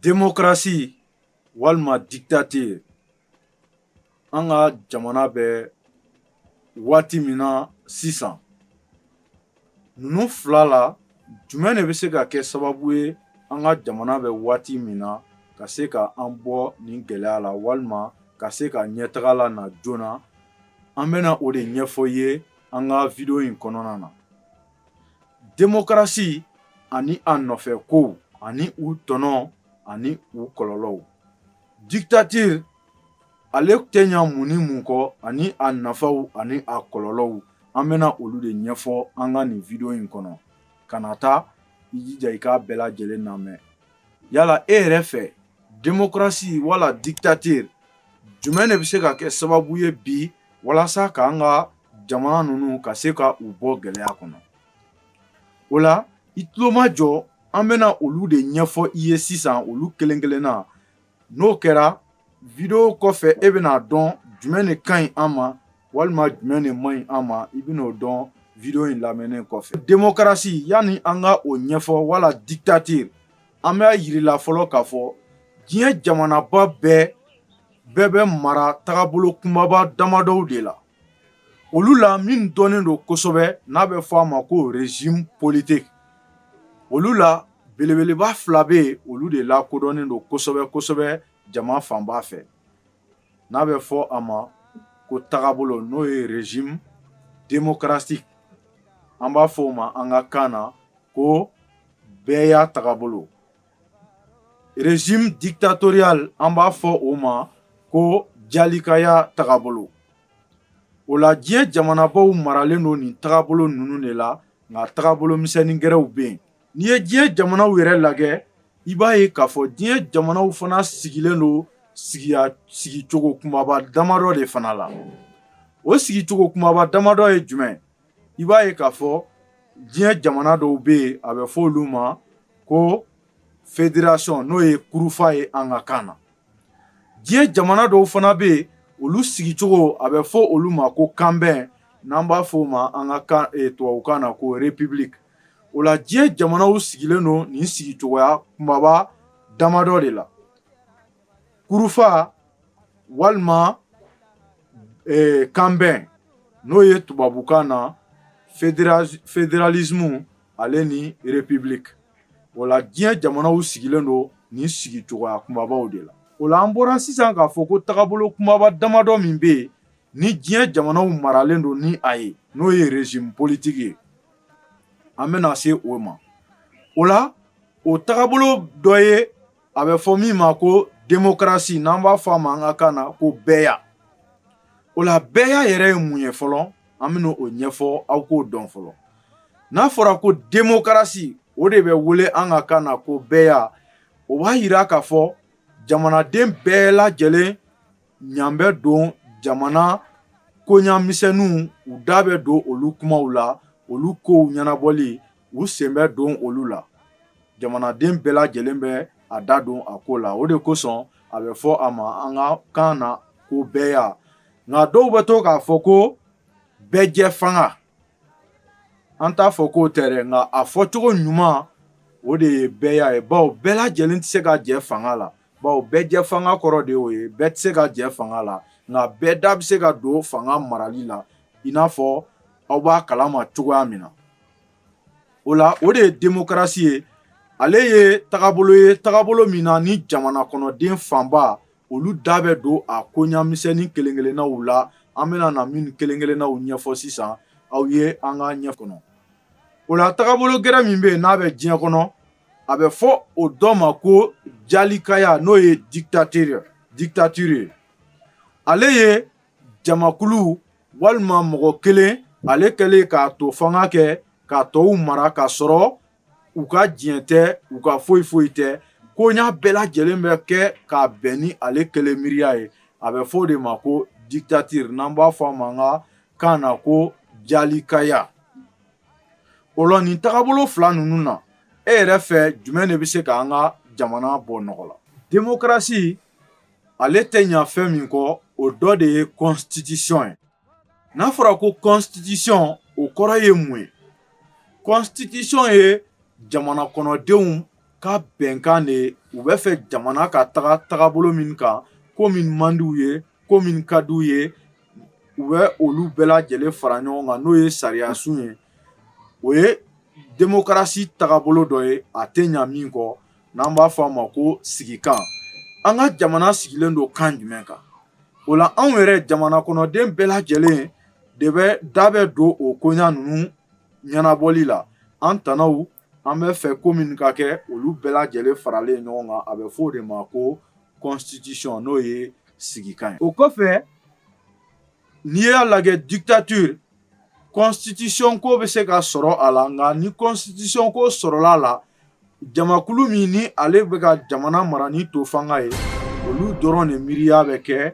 Demokarasi walima dictature an ka jamana bɛ waati min na sisan ninnu fila la jumɛn de bɛ se ka kɛ sababu ye an ka jamana bɛ waati min na ka se ka an bɔ nin gɛlɛya la walima ka se ka ɲɛtaga lana joona an bɛna o de ɲɛfɔ ye an ka video in kɔnɔna na demokarasi ani a nɔfɛkow ani u tɔnɔ ani u kɔlɔlɔw dictature ale tɛ ɲa mun ni mun kɔ ani a nafaw ani a kɔlɔlɔw an bɛna olu de ɲɛfɔ an ka nin video in kɔnɔ kana taa i jija i k'a bɛɛ lajɛlen lamɛn yala e yɛrɛ fɛ demokarasi wala dictature jumɛn de bɛ se ka kɛ sababu ye bi walasa k'an ka jamana ninnu ka se ka u bɔ gɛlɛya kɔnɔ o la i tulomajɔ an bɛna olu de ɲɛfɔ i ye sisan olu kelen kelenna n'o kɛra video kɔfɛ e bɛna a dɔn jumɛn de ka ɲi an ma walima jumɛn de man ɲi an ma i bɛn'o dɔn video in lamɛnnen kɔfɛ demokarasi yanni an ka o ɲɛfɔ wala dictature an b'a yirila fɔlɔ k'a fɔ diɲɛ jamanaba bɛɛ bɛɛ bɛ mara tagabolo kunbaba damadɔw de la olu la min dɔnnen don kosɛbɛ n'a bɛ fɔ a ma ko régime politique olu la belebeleba fila bɛ yen olu de lakodɔnnen don kosɛbɛ kosɛbɛ jama fanba fɛ n'a bɛ fɔ a ma ko tagabolo n'o ye régime démocratique an b'a fɔ o ma an ka kan na ko bɛɛya tagabolo Régime dictatorial an b'a fɔ o ma ko jalikaya tagabolo o la diɲɛ jamanabaw maralen don nin tagabolo ninnu de la nka tagabolo misɛnnin gɛrɛw bɛ yen n'i ye diɲɛ jamanaw yɛrɛ lajɛ i b'a ye k'a fɔ diɲɛ jamanaw fana sigilen don sigi sigicogo kunbaba damadɔ de fana la o sigicogo kunbaba damadɔ ye jumɛn i b'a ye k'a fɔ diɲɛ jamana dɔw bɛ yen a bɛ fɔ olu ma ko fédération n'o ye kurufa ye an ka kan na diɲɛ jamana dɔw fana bɛ yen olu sigicogo a bɛ fɔ olu ma ko kanbɛn n'an b'a fɔ o ma an ka kan e, tubabukan na ko république o la diɲɛ jamanaw sigilen don nin sigicogoya kumaba damadɔ de la kurufa walima kanbɛn n'o ye tubabukan na fédéralisme ale ni république o la diɲɛ jamanaw sigilen don nin sigicogoya kumabaw de la o la an bɔra sisan k'a fɔ ko tagabolo kumaba damadɔ min bɛ yen ni diɲɛ jamanaw maralen don ni a ye n'o ye régime politique ye an bɛna se o ma o la o tagabolo dɔ ye a bɛ fɔ min ma ko démocratie n'an b'a fɔ a ma an ka kan na ko bɛɛya o la bɛɛya yɛrɛ ye mun ye fɔlɔ an bɛna o ɲɛfɔ aw k'o dɔn fɔlɔ n'a fɔra ko démocratie o de bɛ wele an ka kan na ko bɛɛya o b'a yira k'a fɔ jamanaden bɛɛ lajɛlen ɲa bɛ don jamana koɲa misɛnninw u da bɛ don olu kumaw la olu kow ɲɛnabɔli u sen bɛ don olu la jamanaden bɛɛ lajɛlen bɛ a da don a ko la o de kosɔn a bɛ fɔ a ma an ka kan na ko bɛɛya nka dɔw bɛ to k'a fɔ ko bɛɛjɛ fanga an t'a fɔ k'o tɛ dɛ nka a fɔcogo ɲuman o de ye bɛɛya ye bawo bɛɛ lajɛlen tɛ se ka jɛ fanga la bawo bɛɛjɛ fanga kɔrɔ de y'o ye bɛɛ tɛ se ka jɛ fanga la nka bɛɛ da bɛ se ka don fanga marali la i n'a fɔ aw b'a kalama cogoya min na o la o de ye démocratie ye ale ye tagabolo ye tagabolo min na ni jamana kɔnɔden fanba olu da bɛ don a koɲa misɛnnin kelen-kelennaw la an bɛna na minw kelen-kelennaw ɲɛfɔ sisan aw ye an ka ɲɛ kɔnɔ o la tagabolo gɛrɛ min bɛ yen n'a bɛ diɲɛ kɔnɔ a bɛ fɔ o dɔ ma ko jalikaya n'o ye dictateur dictature ye ale ye jamakulu walima mɔgɔ kelen ale kɛlen k'a to fanga kɛ k'a tɔw mara k'a sɔrɔ u ka diɲɛ tɛ u ka foyi foyi tɛ koɲa bɛɛ lajɛlen bɛ kɛ k'a bɛn ni ale kelen miiriya ye a bɛ fɔ o de ma ko dictature n'an b'a fɔ a ma an ka kan na ko jalikaya O la nin tagabolo fila ninnu na e yɛrɛ fɛ jumɛn de bɛ se ka an ka jamana bɔ nɔgɔ la démocratie ale tɛ ɲa fɛn min kɔ o dɔ de ye constitution ye n'a fɔra ko constitution o kɔrɔ ye mun ye constitution ye jamana kɔnɔdenw ka bɛnkan de ye u bɛ fɛ jamana ka taga tagabolo min kan ko min man d'u ye ko min ka d'u ye u bɛ olu bɛɛ lajɛlen fara ɲɔgɔn kan n'o ye sariyasun ye o ye démocratie tagabolo dɔ ye a tɛ ɲa min kɔ n'an b'a fɔ a ma ko sigikan an ka jamana sigilen don kan jumɛn kan o la anw yɛrɛ jamana kɔnɔden bɛɛ lajɛlen de bɛ da bɛ don o koɲa ninnu ɲɛnabɔli la an tanaw an bɛ fɛ ko minw ka kɛ olu bɛɛ lajɛlen faralen ɲɔgɔn kan a bɛ fɔ o de ma ko constitution n'o ye sigikan ye o kɔfɛ n'i y'a lajɛ dictature constitution ko bɛ se ka sɔrɔ a la nka ni constitution ko sɔrɔla a la jamakulu min ni ale bɛ ka jamana mara ni to fanga ye olu dɔrɔn de miiriya bɛ kɛ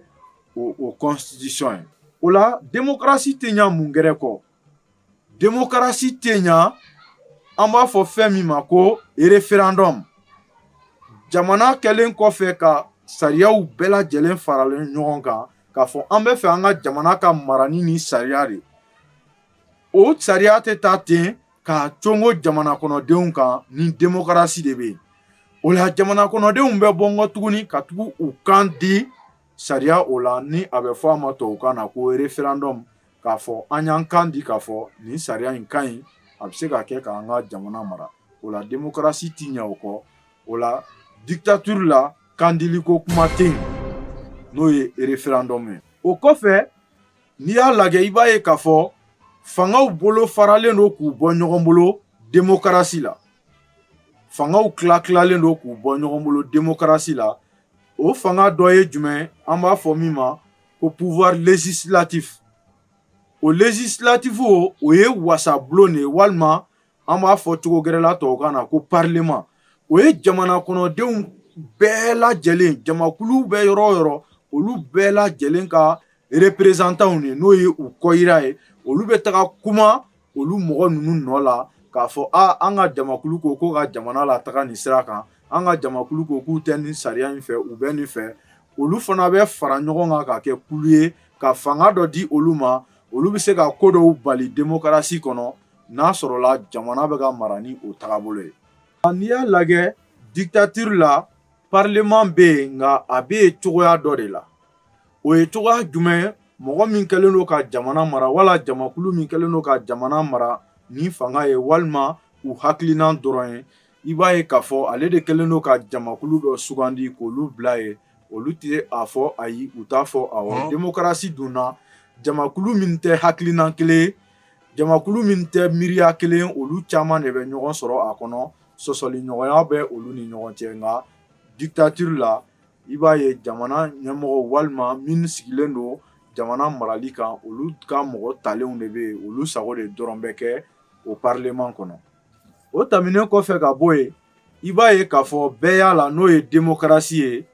o constitution ye o la démocratie tɛ ɲa mun gɛrɛ kɔ demokarasi tɛ ɲɛ an b'a fɔ fɛn min ma ko référendum jamana kɛlen kɔfɛ ka sariyaw bɛɛ lajɛlen faralen ɲɔgɔn kan k'a fɔ an bɛ fɛ an ka jamana ka mara ni nin sariya de o sariya tɛ ta ten k'a congo jamana kɔnɔdenw kan ni demokarasi de bɛ yen o la jamana kɔnɔdenw bɛ bɔ nkɔ tuguni ka tugu u kan di sariya o la ni a bɛ fɔ a ma tubabukan na ko référendum k'a fɔ an y'an kan di k'a fɔ nin sariya in ka ɲi a bɛ se ka kɛ k'an ka jamana mara o la demokarasi tɛ ɲɛ o kɔ o la dictature la kan dili ko kuma tɛ yen n'o ye référendum ye o kɔfɛ n'i y'a lajɛ i b'a ye k'a fɔ fangaw bolo faralen don k'u bɔ ɲɔgɔn bolo demokarasi la fangaw tila tilalen don k'u bɔ ɲɔgɔn bolo demokarasi la o fanga dɔ ye jumɛn an b'a fɔ min ma ko pouvoir législatif o législatif o o ye wasabulon de ye walima an b'a fɔ cogo gɛrɛ la tubabukan na ko parlement o ye jamana kɔnɔdenw bɛɛ lajɛlen jamakulu bɛ yɔrɔ o yɔrɔ olu bɛɛ lajɛlen ka représentantw de n'o ye u kɔyira ye olu bɛ taga kuma olu mɔgɔ ninnu nɔ la k'a fɔ aa an ka jamakulu ko ko ka jamana lataga nin sira kan an ka jamakulu ko k'u tɛ nin sariya in fɛ u bɛ nin fɛ olu fana bɛ fara ɲɔgɔn kan ka kɛ kulu ye ka fanga dɔ di olu ma olu bɛ se ka ko dɔw bali demokarasi kɔnɔ n'a sɔrɔla jamana bɛ ka mara ni o tagabolo ye n'i y'a lajɛ dictature la parlement bɛ yen nka a bɛ yen cogoya dɔ de la o ye cogoya jumɛn ye mɔgɔ min kɛlen don ka jamana mara wala jamakulu min kɛlen don ka jamana mara ni fanga ye walima u hakilinan dɔrɔn ye i b'a ye k'a fɔ ale de kɛlen don ka jamakulu dɔ sugandi k'olu bila yen olu tɛ a fɔ ayi u t'a fɔ awɔ demokarasi dun na jamakulu min tɛ hakilinan kelen jamakulu min tɛ miiriya kelen olu caman de bɛ ɲɔgɔn sɔrɔ a kɔnɔ sɔsɔliɲɔgɔnya bɛ olu ni ɲɔgɔn cɛ nka dictature la i b'a ye jamana ɲɛmɔgɔ walima minnu sigilen don jamana marali kan olu ka mɔgɔ talenw de bɛ yen olu sago de dɔrɔn bɛ kɛ o parlement kɔnɔ o tɛmɛnen kɔfɛ ka bɔ yen i b'a ye k'a fɔ bɛɛya la n'o ye demokarasi ye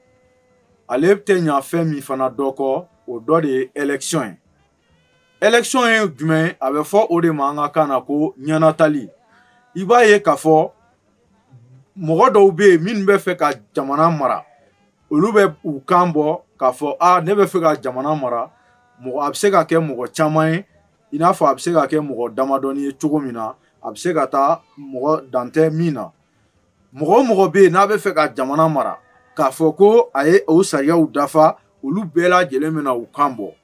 ale tɛ ɲa fɛn min fana dɔ kɔ o dɔ de ye élection ye Élection ye jumɛn a bɛ fɔ o de ma an ka kan na ko ɲɛnatali i b'a ye k'a fɔ mɔgɔ dɔw bɛ yen minnu bɛ fɛ ka jamana mara olu bɛ u kan bɔ k'a fɔ ne bɛ fɛ ka jamana mara ɔ a bɛ se ka kɛ mɔgɔ caman ye i n'a fɔ a bɛ se ka kɛ mɔgɔ damadɔnin ye cogo min na a bɛ se ka taa mɔgɔ dan tɛ min na mɔgɔ o mɔgɔ bɛ yen n'a bɛ fɛ ka jamana mara k'a fɔ ko a ye o sariyaw dafa olu bɛɛ lajɛlen bɛna u kan bɔ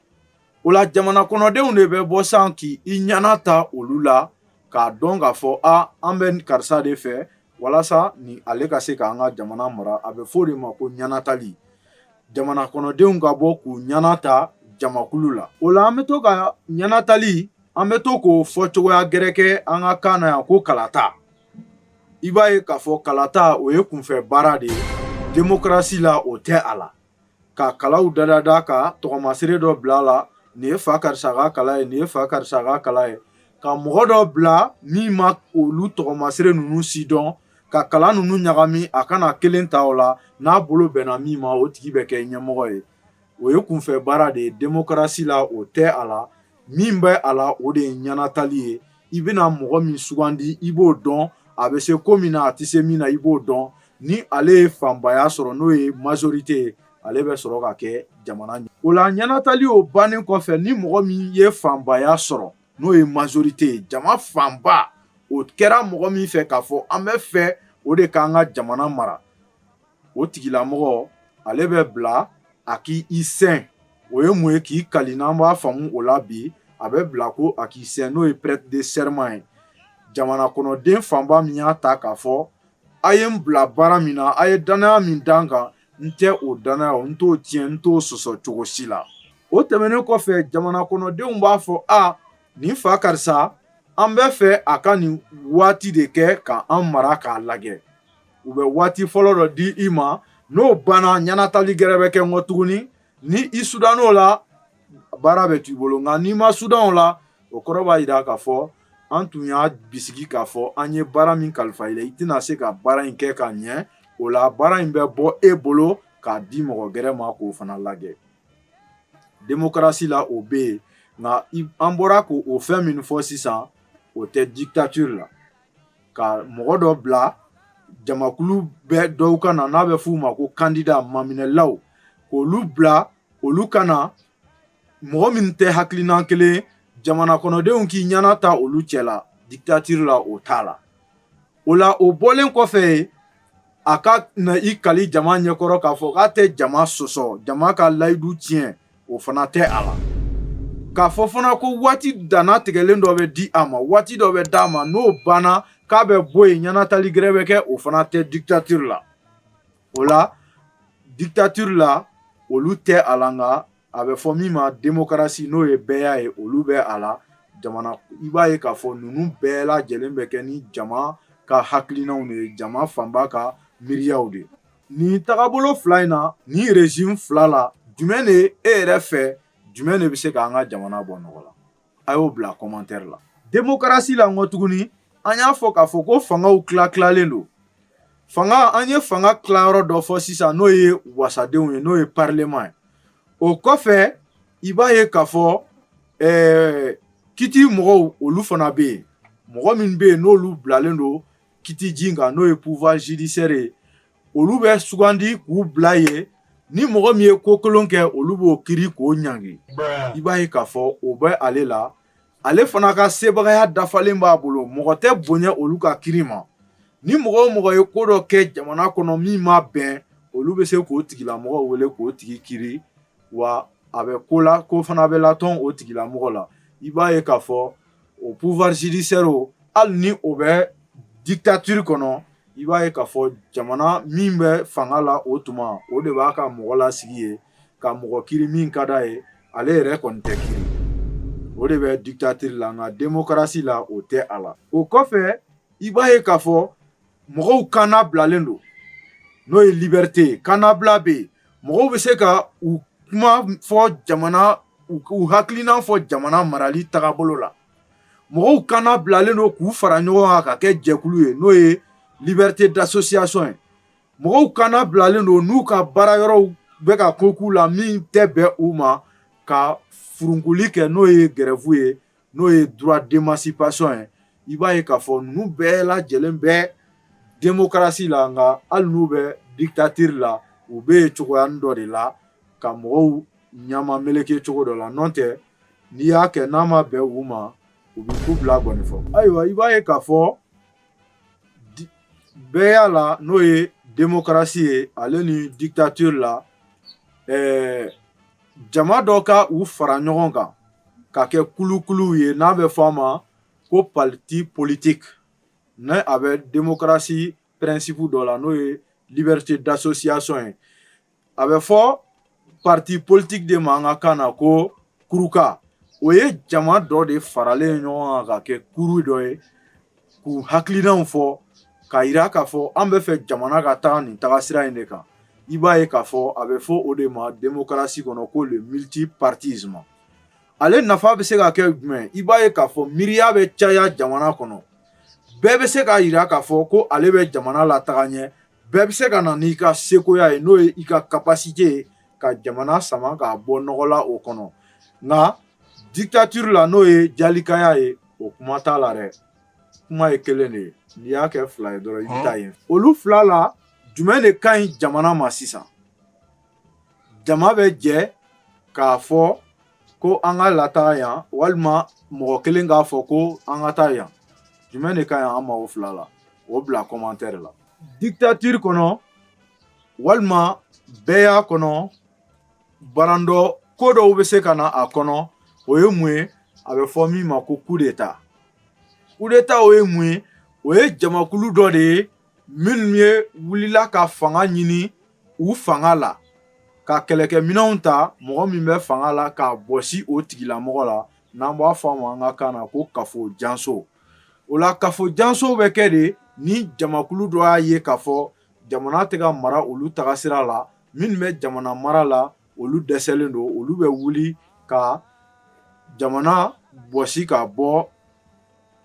O la jamana kɔnɔdenw de bɛ bɔ san k'i ɲana ta olu la k'a dɔn k'a fɔ a an bɛ karisa de fɛ walasa ni ale ka se k'an ka jamana mara a bɛ fɔ o de ma ko ɲɛnatali jamana kɔnɔdenw ka bɔ k'u ɲana ta jamakulu la o la an bɛ to ka ɲɛnatali an bɛ to k'o fɔ cogoya gɛrɛ kɛ an ka kan na yan ko kalata i b'a ye k'a fɔ kalata o ye kunfɛ baara de ye demokarasi la o tɛ a la ka kalaw da da da ka tɔgɔmasiri dɔ bila a la nin ye fa karisa ka kala ye nin ye fa karisa ka kala ye ka mɔgɔ dɔ bila min ma olu tɔgɔmasiri ninnu si dɔn ka kala ninnu ɲagami a ka na kelen ta o la n'a bolo bɛnna min ma o tigi bɛ kɛ ɲɛmɔgɔ ye o ye kunfɛ baara de ye demokarasi la o tɛ a la min bɛ a la o de ye ɲɛnatali ye i bɛna mɔgɔ min sugandi i b'o dɔn a bɛ se ko min na a tɛ se min na i b'o dɔn ni ale ye fanbaya sɔrɔ n'o ye majorité ye ale bɛ sɔrɔ ka kɛ jamana ɲɛ o la ɲɛnatali o bannen kɔfɛ ni mɔgɔ min ye fanbaya sɔrɔ n'o ye majorité ye jama fanba o kɛra mɔgɔ min fɛ k'a fɔ an bɛ fɛ o de k'an ka jamana mara o tigilamɔgɔ ale bɛ bila a k'i sɛn o ye mun ye k'i kali n'an b'a faamu o la bi a bɛ bila ko a k'i sɛn n'o ye prêter de serment ye jamana kɔnɔden fanba min y'a ta k'a fɔ a ye n bila baara min na a ye dannaya min da n kan n tɛ o dannaya n t'o tiɲɛ n t'o sɔsɔ cogo si la o tɛmɛnen kɔfɛ jamana kɔnɔdenw b'a fɔ a nin fa karisa an bɛ fɛ a ka nin waati de kɛ k'an mara k'a lajɛ u bɛ waati fɔlɔ dɔ di i ma n'o banna ɲɛnatali gɛrɛ bɛ kɛ n kɔ tuguni ni i sudann'o la baara bɛ t'i bolo nka n'i ma sudan o la o kɔrɔ b'a jira k'a fɔ an tun y'a bisigi k'a fɔ an ye baara min kalifa i la i tɛna se ka baara in kɛ ka ɲɛ o la baara in bɛ bɔ e bolo k'a di mɔgɔ gɛrɛ ma k'o fana lajɛ demokarasi la o bɛ yen nka an bɔra k'o fɛn min fɔ sisan o tɛ dictature la ka mɔgɔ dɔ bila jamakulu bɛɛ dɔw ka na n'a bɛ f'u ma ko kandida maminɛlaw k'olu bila olu ka na mɔgɔ min tɛ hakilina kelen jamana kɔnɔdenw k'i ɲɛna ta olu cɛ la dictature la o t'a la o la o bɔlen kɔfɛ yen a ka na i kali jama ɲɛkɔrɔ k'a fɔ k'a tɛ jama sɔsɔ jama ka layidu tiɲɛ o fana tɛ a la k'a fɔ fana ko waati danna tigɛlen dɔ bɛ di a ma waati dɔ bɛ d'a ma n'o banna k'a bɛ bɔ yen ɲɛnatali gɛrɛ bɛ kɛ o fana tɛ dictature la o la dictature la olu tɛ a la nka a bɛ fɔ min ma demokarasi n'o ye bɛɛya ye olu bɛ a la jamana i b'a ye k'a fɔ ninnu bɛɛ lajɛlen bɛ kɛ ni jama ka hakilinaw de ye jama fanba ka miiriyaw de ye Nin tagabolo fila in na nin régime fila la jumɛn de e yɛrɛ fɛ jumɛn de bɛ se k'an ka jamana bɔ nɔgɔ la a y'o bila commentaire la démocratie la n ko tuguni an y'a fɔ k'a fɔ ko fangaw tila tilalen don fanga an ye fanga tilayɔrɔ dɔ fɔ sisan n'o ye wasadenw ye n'o ye parlement ye o kɔfɛ i b'a ye k'a fɔ ɛɛ kiti mɔgɔw olu fana bɛ yen mɔgɔ min bɛ yen n'olu bilalen don kiti ji kan n'o ye pouvoir judiciaire ye olu bɛ sugandi k'u bila yen ni mɔgɔ min ye ko kolon kɛ olu b'o kiri k'o ɲangi i b'a ye k'a fɔ o bɛ ale la ale fana ka sebagaya dafalen b'a bolo mɔgɔ tɛ bonya olu ka kiri ma ni mɔgɔ o mɔgɔ ye ko dɔ kɛ jamana kɔnɔ min ma bɛn olu bɛ se k'o tigilamɔgɔ wele k'o tigi kiri wa a bɛ ko la ko fana bɛ latɔn o tigilamɔgɔ la i b'a ye k'a fɔ o pouvoir judiciaire o hali ni o bɛ dictature kɔnɔ i b'a ye k'a fɔ jamana min bɛ fanga la o tuma o de b'a ka mɔgɔ lasigi yen ka mɔgɔ kiri min ka d'a ye ale yɛrɛ kɔni tɛ kiri o de bɛ dictature la nka démocratie la o tɛ a la o kɔfɛ i b'a ye k'a fɔ mɔgɔw kanna bilalen don n'o ye liberté ye kannabila bɛ yen mɔgɔw bɛ se ka u kuma fɔ jamana u hakilina fɔ jamana marali tagabolo la mɔgɔw kanna bilalen don k'u fara ɲɔgɔn kan ka kɛ jɛkulu ye n'o ye liberté d'association ye mɔgɔw kanna bilalen don n'u ka baara yɔrɔw bɛ ka ko k'u la min tɛ bɛn u ma ka furunkuli kɛ n'o ye grève ye n'o ye droit d'émancipation ye i b'a ye k'a fɔ ninnu bɛɛ lajɛlen bɛ démocratie la nka hali n'u bɛ dictature la u bɛ yen cogoyanin dɔ de la ka mɔgɔw ɲɛ mameleke cogo dɔ la n'o tɛ n'i y'a kɛ n'a ma bɛn u ma u bɛ ku bila gɔnifɔ ayiwa i b'a ye k'a fɔ bɛɛya la n'o ye démocratie ye ale ni dictature la ɛɛ jama dɔ ka u fara ɲɔgɔn kan ka kɛ kulukuluw ye n'a bɛ fɔ a ma ko parti politique ni a bɛ démocratie principe dɔ la n'o ye liberté d'association ye a bɛ fɔ parti politique de ma an ka kan na ko kuruka o ye jama dɔ de faralen ɲɔgɔn kan ka kɛ kuru dɔ ye k'u hakilinaw fɔ k'a jira k'a fɔ an b'a fɛ jamana ka taga nin tagasira in de kan i b'a ye k'a fɔ a bɛ fɔ o de ma démocratie kɔnɔ ko le multipartisme ale nafa bɛ se ka kɛ jumɛn i b'a ye k'a fɔ miiriya bɛ caya jamana kɔnɔ bɛɛ bɛ se k'a jira k'a fɔ ko ale bɛ jamana lataga ɲɛ bɛɛ bɛ se ka na n'i ka sekoya ye n'o ye i ka capacité ye ka jamana sama k'a bɔ nɔgɔ la o kɔnɔ nka dictature la n'o ye jalikaya ye o kuma t'a la dɛ kuma ye kelen de ye n'i y'a kɛ fila ye dɔrɔn i bɛ taa yen olu fila la jumɛn de ka ɲi jamana ma sisan jama bɛ jɛ k'a fɔ ko an ka lataga yan walima mɔgɔ kelen k'a fɔ ko an ka taa yan jumɛn de ka ɲi an ma o fila la o bila commentaire la dictature kɔnɔ walima bɛɛya kɔnɔ Barandɔ ko dɔw bɛ se ka na a kɔnɔ o ye mun ye a bɛ fɔ min ma ko coup d'état coup d'état o ye mun ye o ye jamakulu dɔ de ye minnu ye wulila ka fanga ɲini u fanga la ka kɛlɛkɛminɛnw ta mɔgɔ min bɛ fanga la k'a bɔsi o tigilamɔgɔ la n'an b'a fɔ a ma an ka kan na ko kafo janso o la kafo janso bɛ kɛ de ni jamakulu dɔ y'a ye k'a fɔ jamana tɛ ka mara olu taga sira la minnu bɛ jamana mara la olu dɛsɛlen don olu bɛ wuli ka jamana bɔsi ka bɔ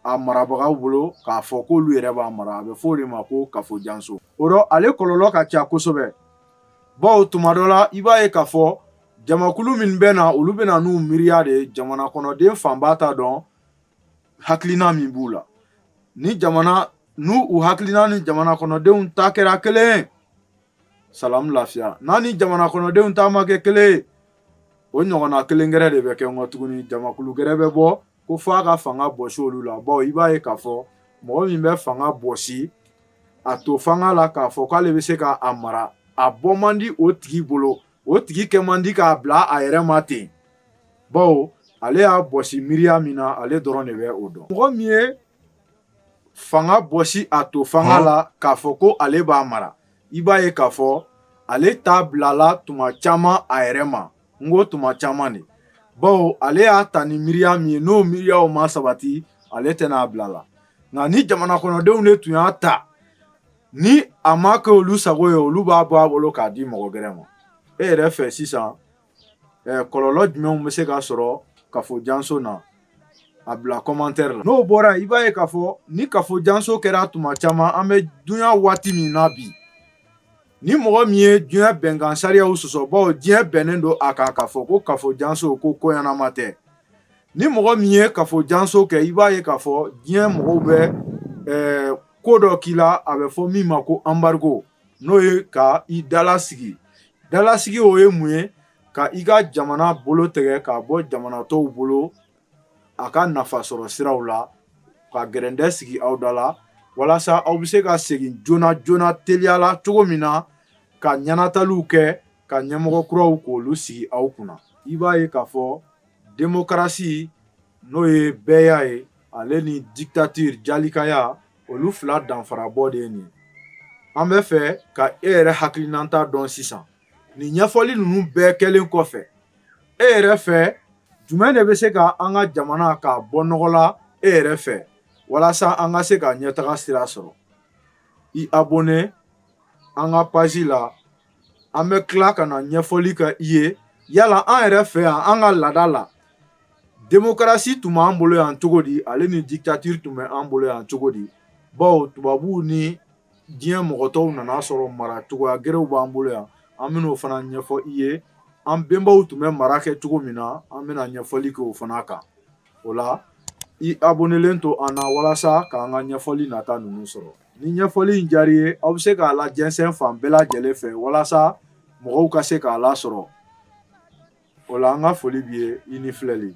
a marabagaw bolo k'a fɔ k' olu yɛrɛ b'a mara a bɛ fɔ o de ma ko kafo janso o rɔ ale kɔlɔlɔ ka ca kosɛbɛ bawo tuma dɔ la i b'a ye k'a fɔ jamakulu min bɛ na olu bɛ na n'u miiriya de jamana kɔnɔden fanba t'a dɔn hakilina min b'u la ni jamana n'u hakilina ni jamana kɔnɔdenw ta kɛra kelen salamu lafiya n'a ni jamana kɔnɔdenw ta ma kɛ kelen o ɲɔgɔnna kelen gɛrɛ de bɛ kɛ kɔ tuguni jamakulu gɛrɛ bɛ bɔ ko f'a ka fanga bɔsi olu la bawo i b'a ye k'a fɔ mɔgɔ min bɛ fanga bɔsi a to fanga la k'a fɔ k'ale bɛ se k'a mara a bɔ man di o tigi bolo o tigi kɛ man di k'a bila a yɛrɛ ma ten bawo ale y'a bɔsi miiriya min na ale dɔrɔn de bɛ o dɔn mɔgɔ min ye fanga bɔsi a to fanga la k'a fɔ ko ale b'a mara i b'a ye k'a fɔ ale t'a bilala tuma caman a yɛrɛ ma n ko tuma caman de bawo ale y'a ta ni miiriya min ye n'o miiriyaw ma sabati ale tɛna a bila la nka ni jamana kɔnɔdenw de tun y'a ta ni a ma kɛ olu sago ye olu b'a bɔ a bolo k'a di mɔgɔ gɛrɛ ma e yɛrɛ fɛ sisan kɔlɔlɔ jumɛnw bɛ se ka sɔrɔ kafo janso na a bila commentaire la n'o bɔra i b'a ye k'a fɔ ni kafo janso kɛra tuma caman an bɛ dunya waati min na bi ni mɔgɔ min ye diɲɛ bɛnkan sariyaw sɔsɔ bawo diɲɛ bɛnnen don a kan k'a fɔ ko kafo janso ko koɲanama tɛ ni mɔgɔ min ye kafo janso kɛ i b'a ye k'a fɔ diɲɛ mɔgɔw bɛ ko dɔ k'i la a bɛ fɔ min ma ko anbarigo n'o ye ka i dalasigi dalasigi o ye mun ye ka i ka jamana bolo tɛgɛ k'a bɔ jamana tɔw bolo a ka nafa sɔrɔ siraw la ka gɛrɛndɛ sigi aw da la walasa aw bɛ se ka segin joona joona teliya la cogo min na ka ɲanataliw kɛ ka ɲɛmɔgɔ kuraw k'olu sigi aw kunna i b'a ye k'a fɔ demokarasi n'o ye bɛɛya ye ale ni dictature jalikaya olu fila danfara bɔ de ye nin an bɛ fɛ ka e yɛrɛ hakilinata dɔn sisan nin ɲɛfɔli ninnu bɛɛ kɛlen kɔfɛ e yɛrɛ fɛ jumɛn de bɛ se ka an ka jamana k'a bɔ nɔgɔ la e yɛrɛ fɛ walasa an ka se ka ɲɛtaga sira sɔrɔ i abonné an ka page la an bɛ tila ka na ɲɛfɔli kɛ i ye yala an yɛrɛ fɛ yan an ka laada la demokarasi tun b'an bolo yan cogo di ale ni dictature tun bɛ an bolo yan cogo di bawo tubabuw ni diɲɛ mɔgɔ tɔw nana sɔrɔ mara cogoya gɛrɛw b'an bolo yan an bɛn'o fana ɲɛfɔ i ye an bɛnbaw tun bɛ mara kɛ cogo min na an bɛna ɲɛfɔli kɛ o fana kan o la i abonnelen to an na walasa k'an ka ɲɛfɔli nata ninnu sɔrɔ Ni ɲɛfɔli in diyara i ye aw bɛ se k'a lajɛnsɛn fan bɛɛ lajɛlen fɛ walasa mɔgɔw ka se k'a lasɔrɔ o la an ka foli b'i ye i ni filɛli